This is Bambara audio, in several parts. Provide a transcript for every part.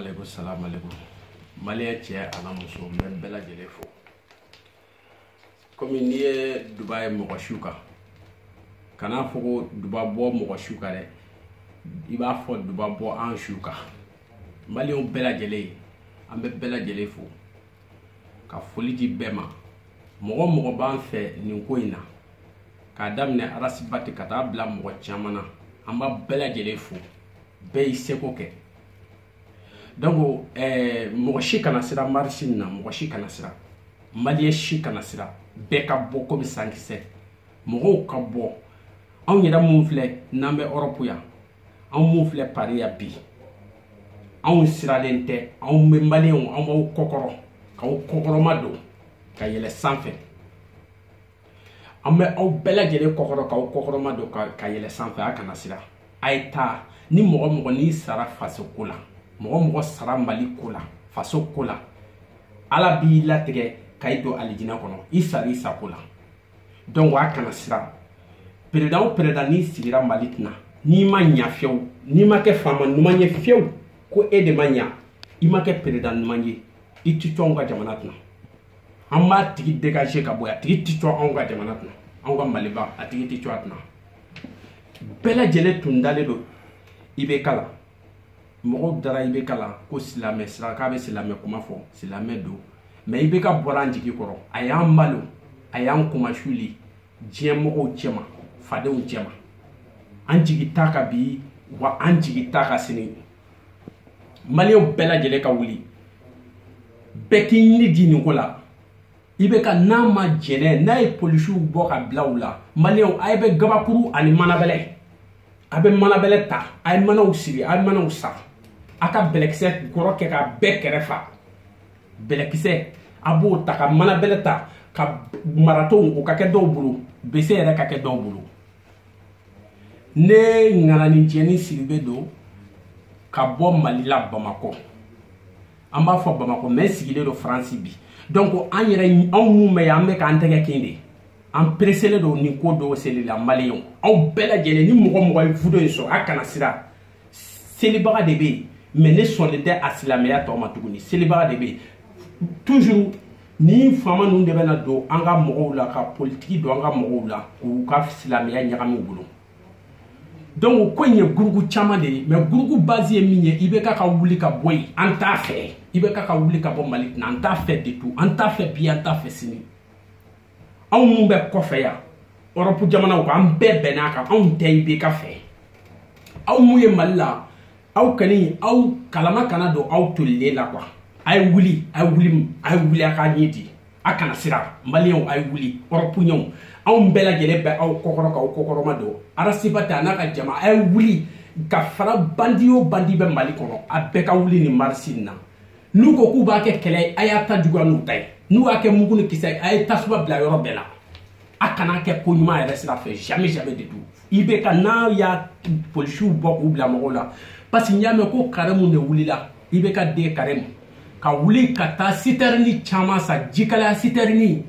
aleykum salaam aleykum maliyɛn cɛ an'a muso n bɛ bɛɛ lajɛlen fo komi n'i ye duba ye mɔgɔ su kan kana fɔ ko duba bɔ mɔgɔ su kan dɛ i b'a fɔ duba bɔ an su kan maliyɛnw bɛɛ lajɛlen an bɛ bɛɛ lajɛlen fo ka foli di bɛɛ ma mɔgɔ mɔgɔ b'an fɛ nin ko in na k'a daminɛ arasibati ka taa bila mɔgɔ caman na an b'a bɛɛ lajɛlen fo bɛɛ y'i seko kɛ donc eh, mɔgɔ si kana sira marisi nin na mɔgɔ si kana sira maliyɛ si kana sira bɛɛ ka bɔ komi sankisɛ mɔgɔw ka bɔ anw yɛrɛ minnu filɛ n'an bɛ ɔrɔpu yan anw minnu filɛ pari yan bi anw siralen tɛ anw bɛ maliyɛnw anw b'aw kɔkɔrɔ k'aw kɔkɔrɔma don ka yɛlɛ sanfɛ an bɛ aw bɛɛ lajɛlen kɔkɔrɔ k'aw kɔkɔrɔma don ka yɛlɛ sanfɛ a kana siran a ye taa ni mɔgɔ mɔgɔ n'i sara faso ko la mɔgɔ mɔgɔ sara mali ko la faso ko la ala b'i latigɛ ka i don alijinɛ kɔnɔ i sara i sago la donc a kana siran peredan o peredan n'i sigira mali kunna n'i ma ɲa fiyewu n'i ma kɛ faama ɲuman ye fiyewu ko e de ma ɲa i ma kɛ peredan ɲuman ye i ti to anw ka jamana kunna an b'a tigi dégage ka bɔ a tigi ti to anw ka jamana kunna anw ka maliba a tigi ti to a kunna bɛɛ lajɛlen tun dalen don ibeka la mɔgɔw dara ibeka la ko silamɛ sira k'a bɛ silamɛ kuma fɔ silamɛ don mɛ ibeka bɔra an jigi kɔrɔ a y'an malo a y'an kunmasuli diɲɛ mɔgɔw cɛma fadenw cɛma an jigi t'a kan bi wa an jigi t'a kan sini maliyɛnw bɛɛ lajɛlen ka wuli bɛɛ k'i ni di nin ko la ibeka n'a ma jɛnɛ n'a ye polisiw bɔ ka bila aw la maliyɛnw a ye bɛ gabakuru ani manabɛlɛ a bɛ manabɛlɛ ta a ye manaw siri a ye manaw san a ka bɛlɛkisɛ kɔrɔ kɛ ka bɛɛ kɛrɛ fa bɛlɛkisɛ a b'o ta ka manabɛlɛ ta ka maratow o ka kɛ dɔw bolo bese yɛrɛ ka kɛ dɔw bolo ne ŋanani jɛni siribe don ka bɔ mali la bamakɔ an b'a fɔ bamakɔ mɛ sigilen don faransi bi donc an yɛrɛ anw mun bɛ yan an bɛ k'an tɛgɛ kin de an pereselen don nin ko don seli la maliyɛnw aw bɛɛ lajɛlen ni mɔgɔ mɔgɔ ye vidéo in sɔrɔ a kana sira selibaga de bɛ yen mɛ ne sɔnnen tɛ a silamɛya tɔgɔ ma tuguni selibaga de bɛ yen toujours nin faama ninnu de bɛna don an ka mɔgɔw la ka politiki don an ka mɔgɔw la k'u ka silamɛya ɲagami u bolo donc o ko in ye gurupu caman de ye mɛ gurupu base ye min ye ibeka ka wuli ka bɔ yen an t'a fɛ ibeka ka wuli ka bɔ mali kunna an t'a fɛ du tout an t'a fɛ bi an t'a fɛ sini anw minnu bɛ kɔfɛ yan ɔrɔpu jamanaw kan an bɛɛ bɛn'a kan anw tɛ IBK fɛ aw min ye mali la aw kɔni aw kalama kana don aw tolilen la kuwa a ye wuli a ye wuli a ye wuli a k'a ɲɛ di a kana siran maliyɛnw a ye wuli ɔrɔpuyɛnw anw bɛɛ lajɛlen bɛ aw kɔkɔrɔ k'aw kɔkɔrɔmadon arasibati a n'a ka jama a ye wuli ka fara bandi o bandi bɛ mali kɔnɔ a bɛɛ ka wuli nin marisi in na n'u ko k'u b'a kɛ kɛlɛ ye a y'a ta juguya n'u ta ye n'u y'a kɛ mugu ni kisɛ ye a ye tasuma bila yɔrɔ bɛɛ la a kana kɛ ko ɲuman yɛrɛ sira fɛ jamais jamais de tout IBK n'a y'a polisiw bɔ k'u bila mɔgɔw la parce que n y'a mɛn ko karimu de wulila IBK den karimu ka wuli ka taa sitɛrini caman san jikalaya sitɛrini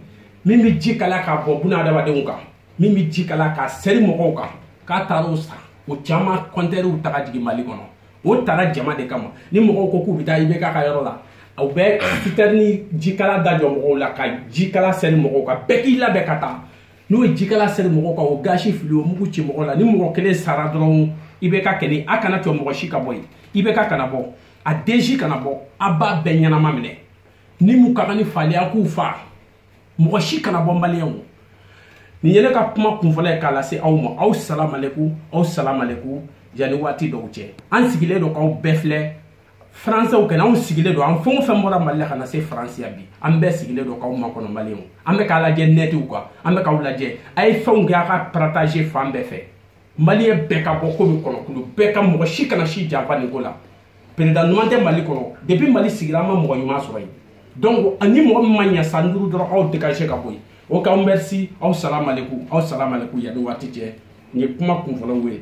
min bɛ ji kalaya k'a bɔ bɔn adamadenw kan min bɛ ji kalaya k'a seri mɔgɔw kan k'a taara o san o caman kɔntɛnɛriw ta ka jigin mali kɔnɔ o tara jama de kama ni mɔgɔw ko k'u bɛ taa IBK ka yɔrɔ la u bɛ sitɛrini jikala da jɔ mɔgɔw la ka jikala seri mɔgɔw kan bɛɛ k'i labɛn ka taa n'u ye jikala seri mɔgɔw kan o gazi fili o mugu ci mɔgɔ la ni mɔgɔ kelen sara dɔrɔn IBK kɛlɛ a kana to mɔgɔ si ka bɔ yen IBK kana bɔ a den si kana bɔ a b'a bɛɛ ɲɛnama minɛ ni min ka kan ni fali ye a k'u fa mɔgɔ si kana bɔ maliyɛnw nin ye ne ka kuma kunfɔlɔ ye k'a lase aw ma aw salamaleku aw salamaleku yanni waati dɔw cɛ an sigilen don k'aw bɛɛ filɛ faransɛw kɛnɛ anw sigilen don an fɛn o fɛn bɔra mali la ka na se faransi yan bi an bɛɛ sigilen don k'aw makɔnɔ maliyɛnw an bɛ k'a lajɛ nɛtiw kan an bɛ k'aw lajɛ a ye fɛnw kɛ a ka parataze fan bɛɛ fɛ maliyɛn bɛɛ ka bɔ komi kɔnɔkulu bɛɛ ka mɔgɔ si kana si janfa nin ko la perezidan ɲuman tɛ mali kɔnɔ depuis mali sigira an ma mɔgɔ ɲuman sɔrɔ yen donc ani mɔgɔ min ma ɲa san duuru dɔrɔn aw dégage ka bɔ yen o k'aw merci aw salamaleku aw salamaleku yanni waati cɛ nin ye kuma kunfɔlɔw ye